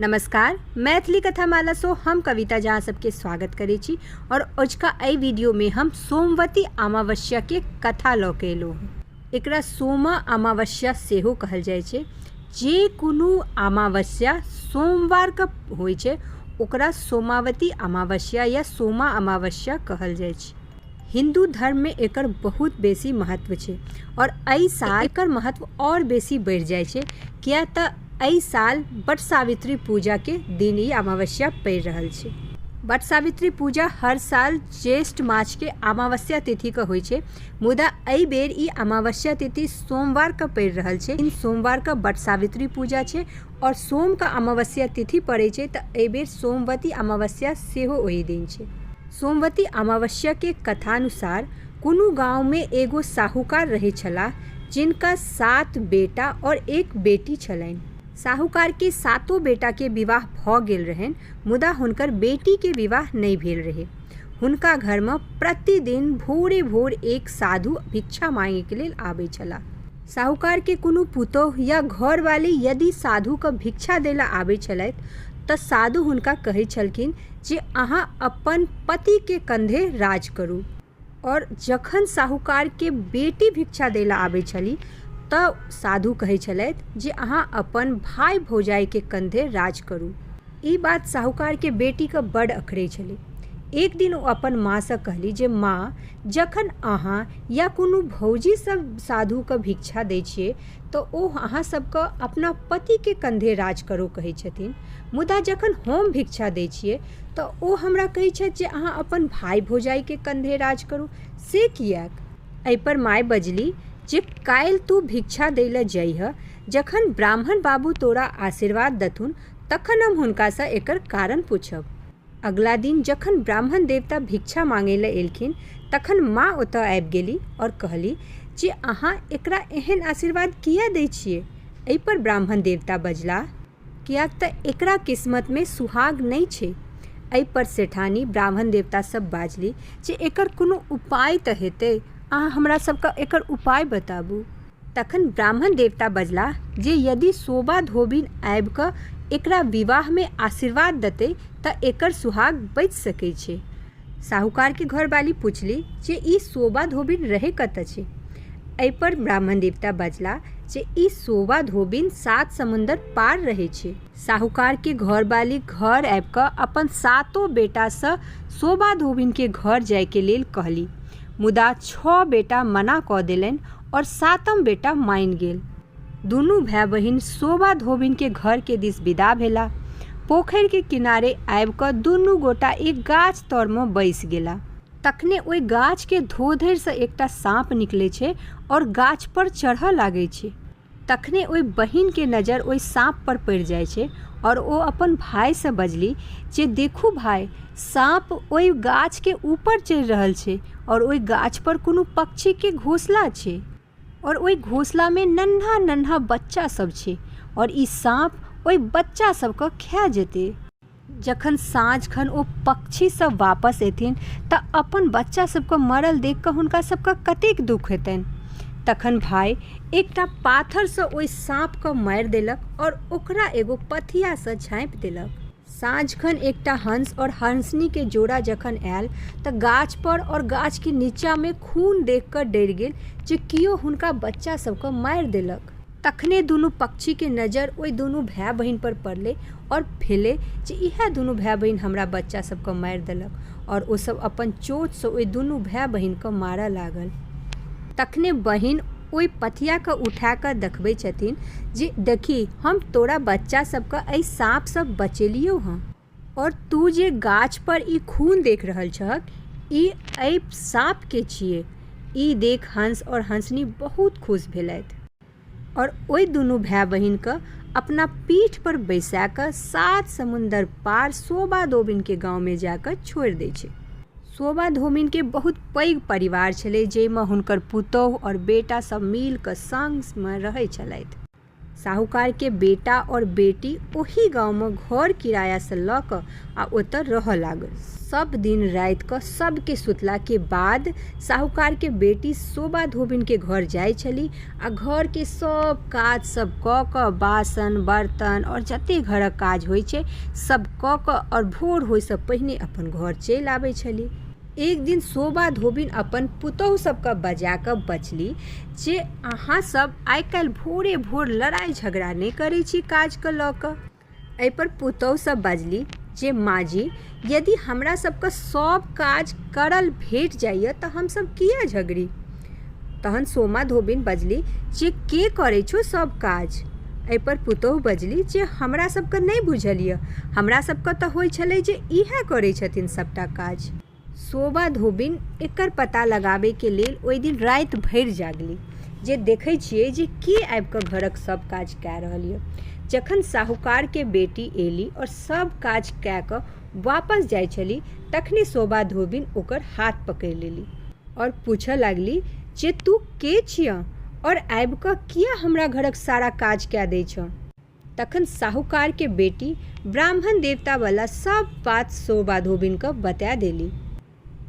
नमस्कार मैथिली कथा माला सो हम कविता झा सबके स्वागत करै छी और अजुका एहि वीडियो में हम सोमवती अमावस्या के कथा लऽ के एलहुँ हँ एकरा सोमा अमावस्या सेहो कहल जाइ छै जे कोनो अमावस्या सोमवार के होइ छै ओकरा सोमावती अमावस्या या सोमा अमावस्या कहल जाइ छै हिन्दू धर्ममे एकर बहुत बेसी महत्व छै आओर एहि साल एकर महत्व आओर बेसी बढ़ि जाइ छै किएक तऽ एहि साल वट सावित्री पूजाके दिन ई अमावस्या पड़ि रहल छै वट सावित्री पूजा हर साल ज्येष्ठ मासके अमावस्या तिथिके होइ छै मुदा एहि बेर ई अमावस्या तिथि सोमवारके पड़ि रहल छै इन सोमवारके वट सावित्री पूजा छै आओर सोमके अमावस्या तिथि पड़ै छै तऽ एहि बेर सोमवती अमावस्या सेहो ओहि दिन छै सोमवती अमावस्या के कथानुसार कोनो गाँव में एगो साहूकार रहै छलाह जिनका सात बेटा और एक बेटी छलैन। साहूकार के सातो बेटा के विवाह भ गेल रहैन मुदा हुनकर बेटी के विवाह नइ भेल रहै। हुनका घर में प्रतिदिन भोरे-भोर एक साधु भिक्षा मांगे के लेल आबै छलाह। साहूकारके कोनो पुतोहु या घरवाली यदि साधुके भिक्षा दै लए आबै छलथि तऽ साधु हुनका कहै छलखिन जे अहाँ अपन पतिके कन्धे राज करू आओर जखन साहूकारके बेटी भिक्षा दै लए आबै छलि तऽ साधु कहै छलथि जे अहाँ अपन भाय भौजाइके कन्धे राज करू ई बात साहूकारके बेटीके बड्ड अखरै छलै एकदिन ओ अपन माँसँ कहली जे माँ जखन अहाँ या कोनो भौजी सब साधुके भिक्षा दै छियै तऽ ओ अहाँ सबके अपना पतिके कन्धे राज करो कहै छथिन मुदा जखन हम भिक्षा दै छियै तऽ ओ हमरा कहै छथि जे अहाँ अपन भाय भौजाइके कन्धे राज करो से किएक अइपर माय बजली जे काल्हि तू भिक्षा दै लए जैहऽ जखन ब्राह्मण बाबू तोरा आशीर्वाद देथुन तखन हम हुनकासँ एकर कारण पुछब अगिला दिन जखन ब्राह्मण देवता भिक्षा माँगै लए एलखिन तखन माँ ओतए आबि गेलि और कहलि जे अहाँ एकरा एहन आशीर्वाद किए दै छिऐ? एहि पर ब्राह्मण देवता बजलाह। किएक तँ एकरा किस्मतमे सुहाग नहि छै। एहि पर सेठानी ब्राह्मण देवता सभ बाजलि जे एकर कोनो उपाय तँ हेतै। अहाँ हमरा सभकेँ एकर उपाय बताबू। तखन ब्राह्मण देवता बजलाह जे यदि शोभा धोबिन आबि कऽ एकरा विवाहमे आशीर्वाद देतै तँ एकर सुहाग बचि सकै छै। साहूकारकेँ घरवाली पुछली जे ई शोभा धोबिन रहै कतऽ छै? एहिपर ब्राह्मण देवता बजलाह जे ई शोभा धोबिन सात समुन्दर पार रहै छै। साहूकारकेँ घरवाली घर आबि कऽ अपन सातो बेटासँ शोभा धोबिनकेँ घर जाइक लेल कहली मुदा छओ बेटा मना कऽ देलनि और सातम बेटा माइन गेल दुनू भाई बहिन शोभा धोबिन के घर के दिस विदा भेला पोखर के किनारे आबि कऽ दुनू गोटा एक गाछ तर में बैस गेला तखने ओहि गाछ के धोधर से एकटा साँप निकले छै और गाछ पर चढ़ऽ लागे छै तखने ओहि बहिन के नजर ओहि साँप पर पड़ि जाइत छै और ओ अपन भाई से बजली जे देखू भाई साँप ओहि गाछ के ऊपर चढ़ि रहल छै और ओहि गाछ पर कोनो पक्षी के घोसला छै और ओहि घोसला में नन्हा नन्हा बच्चा सब छै और ई साँप ओहि बच्चा सब के खा जेतै जखन साँझ खन ओ पक्षी सब वापस एथिन तऽ अपन बच्चा सबके मरल देख कऽ हुनका सबके कतेक दुख हेतनि तखन भाय एकटा पाथरसँ ओहि साँपके मारि देलक आओर ओकरा एगो पथियासँ झाँपि देलक साँझखन एकटा हंस आओर हंसनीके जोड़ा जखन आयल तऽ गाछपर आओर गाछके नीचाँमे खून देख कऽ डरि गेल जे केओ हुनका बच्चा सबके मारि देलक तखने दुनू पक्षीके नजर ओहि दुनू भाय बहिन पर पड़लै आओर भेलै जे इएह दुनू भाय बहिन हमरा बच्चा सबके मारि देलक आओर ओ सब अपन चोंचसँ ओहि दुनू भाय बहिनके मारऽ लागल तखने बहिन ओहि पथियाके उठा कऽ देखबै छथिन जे देखी हम तोरा बच्चा सबके एहि साँपसँ बचेलियौ हँ और तू जे गाछ पर ई खून देख रहल छहक, ई एहि साँप के छिऐ। ई देख हंस और हंसनी बहुत खुश भेलथि और ओहि दुनू भाय-बहिन क अपना पीठ पर बैसा क सात समुन्दर पार सोबा धोबिन के गाँव में जा क छोड़ि दै छै। सोबा धोबिन के बहुत पैघ परिवार छेलै, जइ में हुनकर पुतोहु और बेटा सब मिल क संग में रहै छेलथि। साहूकार के बेटा आओर बेटी ओहि गाँव मे घर किराया सँ लऽ कऽ आ ओतय रहय लागल। सब दिन राति कऽ सब के सुतला के बाद साहूकार के बेटी शोभा धोबिन के घर जाय छली आ घर के सब काज सब कऽ कऽ बासन बर्तन आओर जते घरक काज होइ छै सब कऽ कऽ आओर भोर होइ सँ पहिने अपन घर चलि आबै छली। एक दिन शोभा धोबिन अपन पुतोहु सबके बजा कऽ बजली जे अहाँ सब आइ काल्हि भोरे भोर लड़ाइ झगड़ा नहि करै छी काजके लऽ कऽ अइपर पुतोहु सब बजली जे माँ जी यदि हमरा सबके सब काज करल भेट जाइए तऽ हमसब किए झगड़ी तहन सोमा धोबिन बजली जे के करै छौ सभ काज एहिपर पुतोहु बजली जे हमरा सभके नहि बुझल यऽ हमरा सभके तऽ होइ छलै जे इएह करै छथिन सभटा काज सोमा धोबिन एकर पता लगाबैके लेल ओहि दिन राति भरि जागली जे देखै छियै जे के आबि कऽ घरक सभ काज कए रहल यऽ जखन साहूकारके बेटी एली आओर सभ काज कए कऽ वापस जाइ छली तखने शोभा धोबिन ओकर हाथ पकड़ि लेली आओर पूछऽ लागली जे तू के छिअ आओर आबि कऽ किया हमरा घरक सारा काज कए दै छह तखन साहूकार के बेटी ब्राह्मण देवता वाला सब बात शोभा धोबिन कऽ बता देली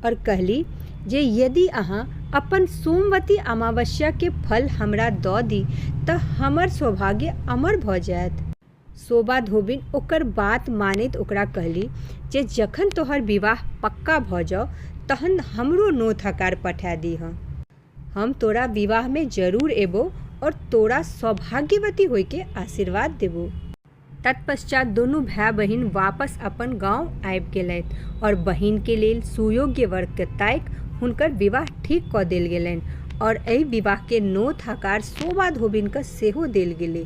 आओर कहली जे यदि अहाँ अपन सोमवती अमावस्या के फल हमरा दऽ दी तऽ हमर सौभाग्य अमर भऽ जायत शोभा धोबिन ओकर बात मानैत ओकरा कहली जे जखन तोहर विवाह पक्का भऽ जाउ तहन हमरो नोत-हकार पठा दीहऽ। हम तोरा विवाहमे जरूर एबौ और तोरा सौभाग्यवती होइके आशीर्वाद देबौ। तत्पश्चात दुनू भाय-बहिन वापस अपन गाँव आबि गेलथि और बहिनके लेल सुयोग्य वरके ताकि हुनकर विवाह ठीक कऽ देल गेलनि और एहि विवाहके नोत-हकार शोभा धोबिनके सेहो देल गेलै।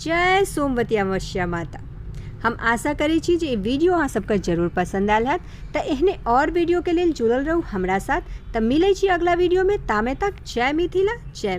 जय सोमवती अमावस्या माता हम आशा करै छी जे ई वीडियो अहाँ सबके जरूर पसंद आयल हैत तऽ एहने और वीडियो के लेल जुड़ल रहू हमरा साथ तऽ मिलै छी अगला वीडियो में तामे तक जय मिथिला जय